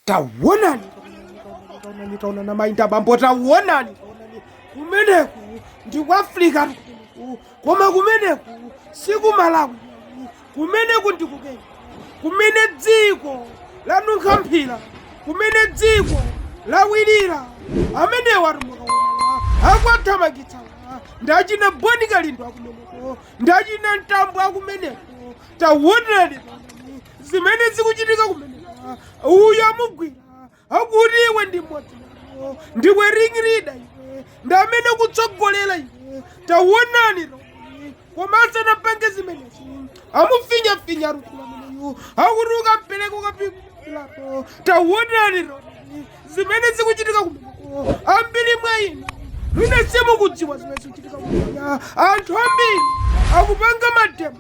tawonani tawonani tawonani mayi ndi bambo tawonani kumeneku ndi ku africa ku- koma kumeneku si ku malawi kumeneku ndi ku kenya kumene dziko lanunkha mphira kumene dziko lawira amenewa atu mukuona akwathamangitsa ndachina boni kalindo akumeneko ndachina mtambo akumeneko tawonani zimene zikuchitika kumeneko uyu amugwira akuti iwe ndi mmodzi wawo ndiwe ring leader iwe ndi amene ukutsogolera iwe tawonani tawonani komanso usadzapange zimenezi amufinyafinya mkulu ameneyu akuti ukampereka ukapikulapo tawonani tawonani zimene zikuchitika kumeneko ambiri mwa inu mwina simukudziwa zimene zikuchitika kumeneko anthu ambiri akupanga mademo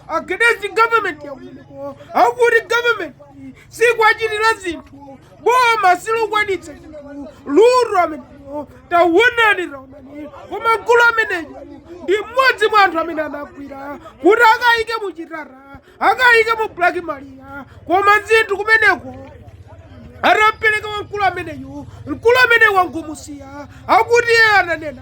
agadesi government yakumeneko akuti government siikuwachitira zinthu boma silukwanitsa zinthu mkulu ameneyo tawonani taonani koma mkulu ameneyo ndi mmodzi mwa anthu amene anagwira kuti akayike mu chitata akayike mu black maria koma zinthu kumeneko atampweteka wamkulu ameneyu mkulu ameneyo angomusiya akuti iye ananena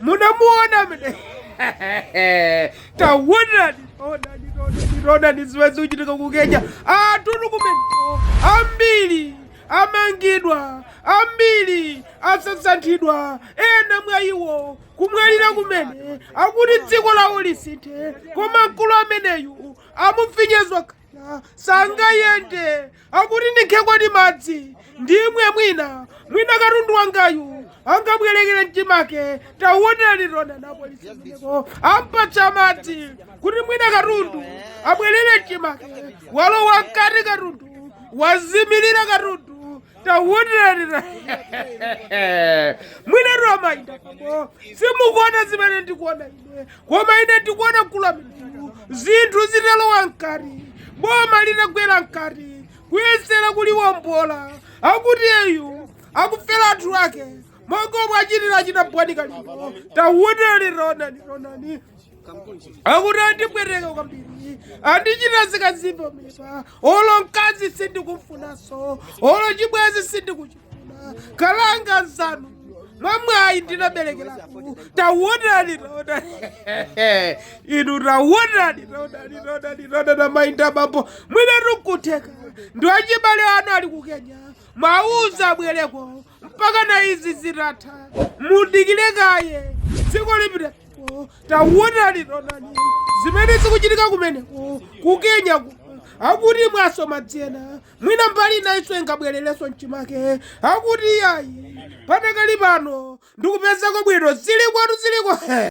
munamuona amene tawonani tawonani tawonani tawonani zimene zikuchitika ku kenya anthutu kumene ambiri amangidwa ambiri asasantidwa ena mwa iwo kumwalira kumene akuti dziko lawo lisinthe koma mkulu ameneyu amufinyezwa kaya sangayende akuti ndibwerekeni madzi ndimwe mwina mwina katundu wangayu angabwerere m'chimake tawonani tawonani apolisiwo ampatsa madzi kuti mwina katundu abwerere m'chimake walowa mkati katundu wazimirira katundu tawonani mwina mayi ndi abambo simukuona zimene ndikuona ine. koma ine ndikuona mkulu ameneyu zinthu zitalowa mkati boma litagwera mkati kuyesera kuliwombola akuti uyu akufera anthu ake monga omwe achitira achina Boni Kalindo tawonani tawonani tawonani akuti andipweteka kwambiri andichita zikazimba mipa olo mkazi sindikumufunanso olo chibwezi sindikuchita kalanga zanu mwamwayi ndinaberekeraku tawonani tawonani inu tawonani tawonani tawonani tawonani mayi ndi abambo mwinatu kutheka ndi achibale anu ali ku kenya muwauze abwereko mpaka na izi zitatha mudikire kaye ziko lipitako tawonani tawonani zimene zikuchitika kumeneko ku kenya ku akuti mwasoma dzena mwina mbali inayinso ingabwererenso mchimake akuti iyayi padakali pano ndikupezako bwino zili kwathu ziliko